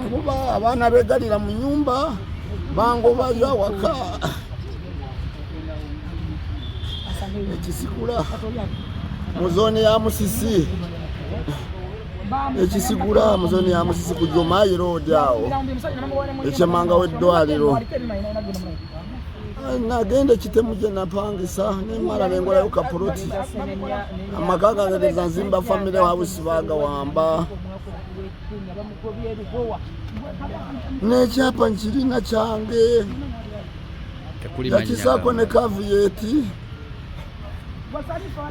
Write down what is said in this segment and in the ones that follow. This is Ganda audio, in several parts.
kuba abaana begalira mu nyumba bangobayo awaka ekisikula mu zooni ya musisi ekisigula mu zooni ya musisi ku jomayi roodi awo ekyemanga w'eddwaliro nagenda ekitemu gye napangisa nemala nengolayo kapoloti amaka gange gezanzimba famire wabusi bagawamba n'ekyapa nkirina kyange yakisaako ne kavuyeti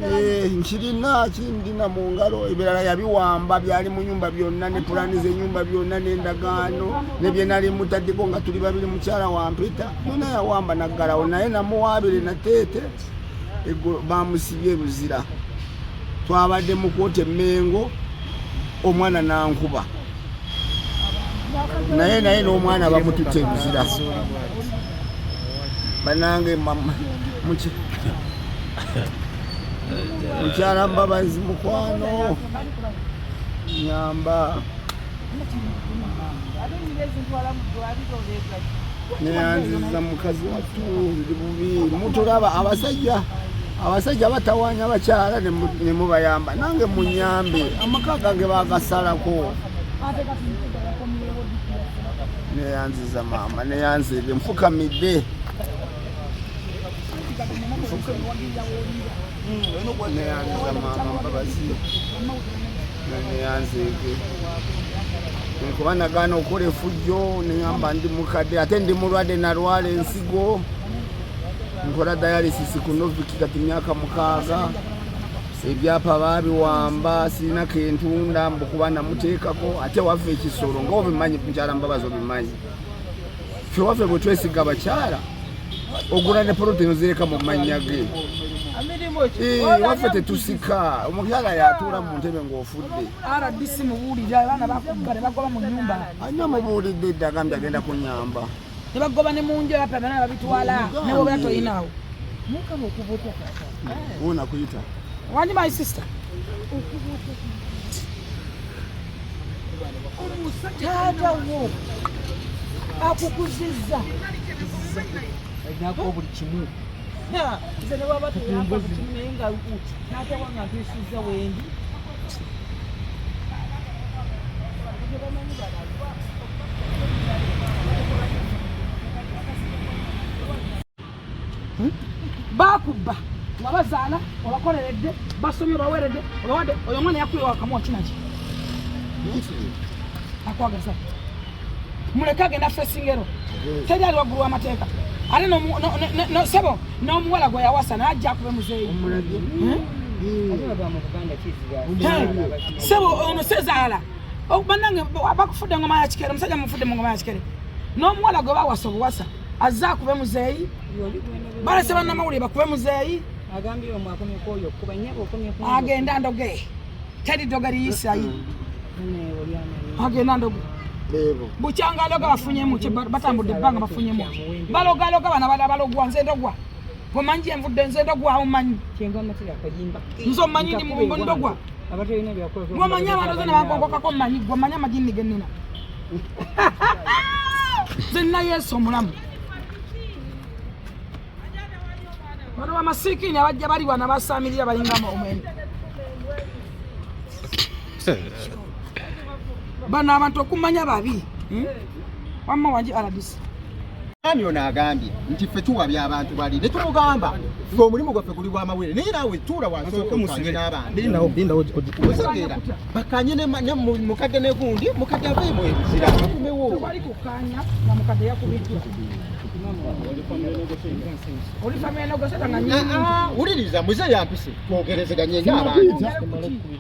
eh, nkirina kindina mu ngalo ebirala yabiwamba byali mu nyumba byonna ne pulaani z'enyumba byonna n'endagaano ne bye nali mutaddeko nga tuli babiri mukyala wampita byonna yawamba naggalawo naye namuwaabire nateete bamusibye luzira twabadde mukwota emengo omwana nankuba naye naye n'omwana bamutute luzira banange mukyala mbabazi mukwano nyamba neyanziza mukazi wattu ndi bubi mutulaba abasajja abasajja batawanya abakyala nemubayamba nange munyambe amaka gange bagasalako neyanziza maama neyanzize nfukamidde neyanziza maama mbabazi neyanzeege nkuba nagaana okukola efujjo neyamba ndi mukadde ate ndi mulwadde nalwala ensigo nkola dialysis ku novik kati myaka mukaaga ebyapa babiwamba sirina kentunda mbukuba namuteekako ate waffe ekisolo ngaobimanyi mukyala mbabazi obimanyi ffe waffe bwe twesiga abakyala ogula ne poloti nozireka mu mannya ge waffe tetusika omukyala yatuula mu ntebe ng'ofudde anyo mubuulidde dda agambye agenda kunyamba nebagoba ne munju abapya byona babitwala newobera toyinawo wona kuyita wandi my sister taata wo akukuzizza alinako buli kimu nze newaba teyamba buli kimu naye nga taata wange antuusizza wendi hmm? bakubba nga bazaala obakoleredde basomye obaweredde obawadde oyo omwana yakuyiwa wakamuwa kinaki akwagaza muleke agenda fesingero teri ali waggulu w'amateeka ate sebo n'omuwala gwe yawasa naye ajja akube muzeeyi hmm? sebo ono sezaala oh, banange bakufudde ngoma ya kikere omusajja mufudde mu ngoma ya kikere n'omuwala gwe bawasa obuwasa azze akube muzeeyi balese bannamawulire bakube muzeeyi agenda ndoge teri doga liyisayi agenda ndoge bukyanga aloga bafunyemu batambudde ebbanga bafunyemu balogaloga bana balogwa nze ndogwa Gwe manyi gye nvudde nze ndogwa omanyi. Kyenva matira kayimba. Nze omanyi ndi mu ndogwa. Abatalina byakola. Gwe manyi abantu zena bakokokako manyi gwe manyi amajinni ge nnina. Nze nina Yesu omulamu. Bano bamasikiini abajja bali wano basaamirira balinga omwene. bano abantu okumanya babi hmm? wamma wangi aladisi ani ono agambye nti ffe tuwabya abantu bali ne tumugamba ffe omulimu gwaffe guli gwamawere naye naawe tuula wansookamusige n'abantuosegeera bakanye mukadde negundi mukadde avemu ebizira akumewo wuliriza muze yampise twogerezeganye nyo abantu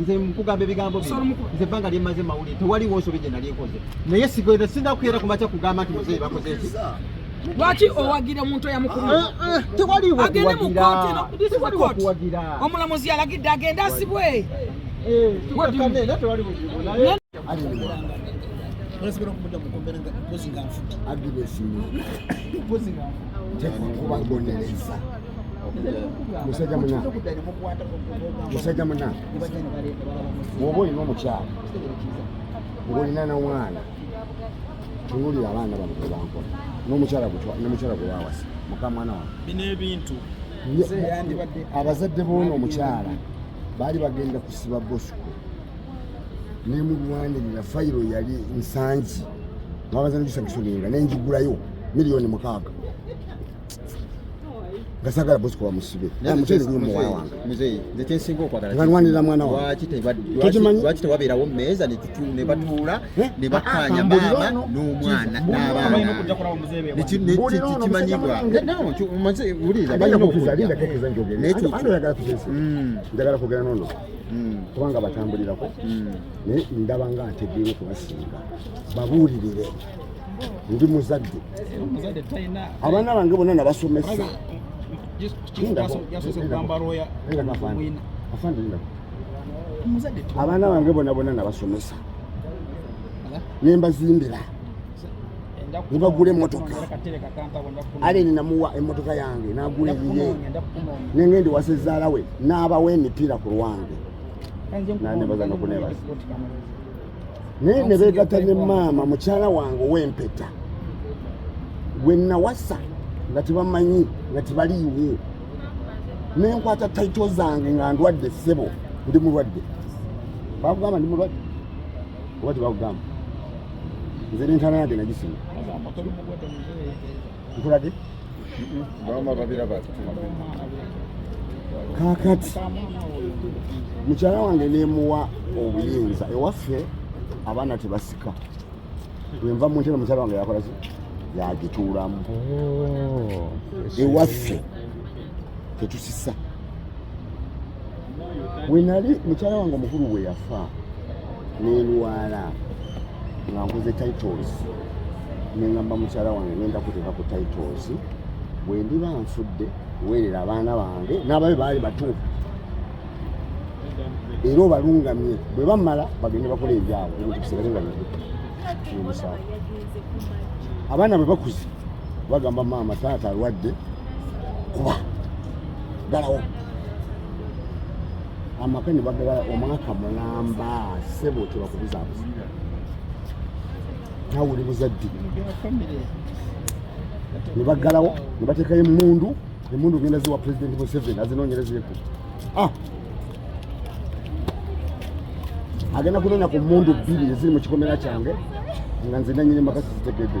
nze nkugamba ebigambo bino nze ebbanga lyemmaze mawulire tewaliwo nsobi gye nali nkoze naye sigenda sinda kukeera ku makya kugamba nti muzeeyi bakoze eki lwaki owagira omuntu oyamukumaagende mu kooti omulamuzi alagidde agende asibwe eh, agiresimu kuba bonereza musajja muna musajja muna bwoba olina omukyala ngolina nomwana tuwulira abaana bano bebankola nomukyala gwe wawasa mukamwana wa bino ebintu abazadde boona omukyala baali bagenda kusiba bosco nemulwanirira fayiro yali nsangi nabazana gisagisonenga nenjigulayo miliyoni mukaaga gasagala bosi kuba musibe naye mutezi ni muwa wange mzee nze kyensinga okwagala nganwanira mwana wange lwaki tebakimanyi lwaki tewabeerawo mmeeza ne batuula eh? ne bakkaanya ah, maama n'omwana n'abaana kimanyibwa wuliriza balina okujja naye mm. njagala kugera nono mm. kubanga batambulirako mm. naye ndaba nga ntegeera okubasinga babuulirire ndi muzadde abaana bange bonna nabasomesa abaana bange bona bona nabasomesa nembazimbira nebagula emotoka ale ninamuwa emotoka yange nagula eyiye nengendi wasezaalawe naabawa emipiira ku lwange nanebaza nokunebaza naye ne beegatta ne maama mukyala wange ow'empeta gwe nawasa nga tebamanyi nga tebaliiwo ne nkwata taito zange nga ndwadde ssebo ndi mulwadde bakugamba ndi mulwadde oba tebakugamba nze nentana yage nagisima nkulage maama babiraba kakati mukyala wange nemuwa obuyinza ewaffe abaana tebasika wenva muntera mukyala wange yakola ki yagituulamu oh, ewaffe tetusisa wenali mukyala wange omukulu bwe yafa nenwala nga nkoze titles nengamba mukyala wange ngenda kuteeka ku titles bwendiba nfudde werera abaana bange n'ababe baali batuufu era obalungamye bwe bamala bagende bakola ebyabo ebintu bisigale nga bimusaala abaana bwe bakuze bagamba maama taata alwadde kuba galawo amaka ne bagala omwaka mulamba sebo tebakubuzabuza nawe oli buzadde ne baggalawo ne bateekayo emmundu emmundu ogenda ziwa pulezidenti museveni azinoonyerezeeko ah! agenda kunoonya ku mmundu bbiri eziri mu kikomera kyange nga nze nanyini maka sizitegedde